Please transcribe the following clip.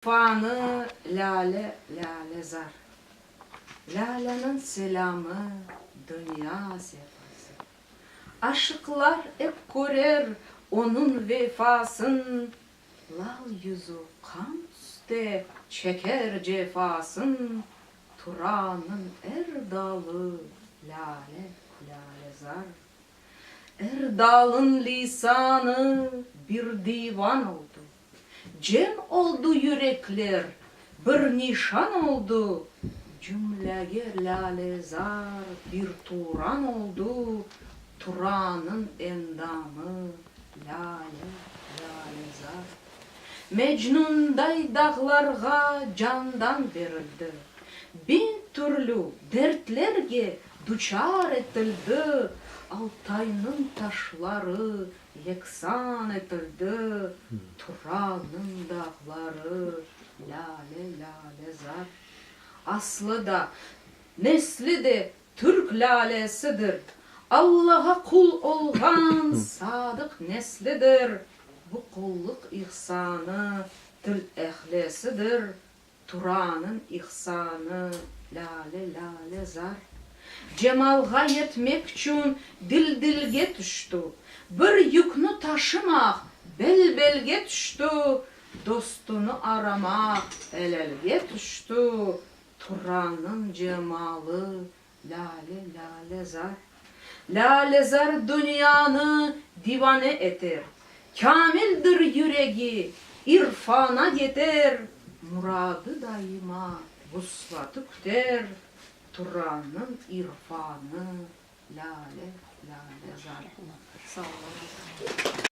Panı, lâle, lâle zar. Lâleniñ selâmı, dünya sefası. Aşıqlar ep körer onıñ vefasın, Lal yüzü qan üste çeker cefasın. Turanıñ er dalı, lâle, lâle zar. Er dalın liysanı bir divan oldı. Cem oldu yürekler, bir nişan oldu, Cümlege lâle-zar bir Turan oldu, Turanın endamı lâle, lâle-zar. Mecnunday dağlarğa candan berildi, Biñ türlü dertlerge duçar etildi, Altaynıñ taşları Yeksan etildi Turanıñ dağları, Lâle, lâle zar. Aslı da, nesli de Türk lâlesidir, Allağa qul olğan Sadıq neslidir. Bu qullıq ihsanı Til ehlisidir, Tura anın ihsanı, lâle, lâle, zar. Cemalğa yetmek içün dil-dilge tüştü. Bir yüknü taşımaq bel-belge tüştü, Dostunı aramaq el-elge tüştü. Turanıñ cemalı, Lâle, lâle zar. Lâle zar dünyanı divane eter, Kâmildir yüregi, irfana yeter, Muradı daima vuslatı küter, Turanıñ irfanı, lâle, lâle zar. Sağ olun.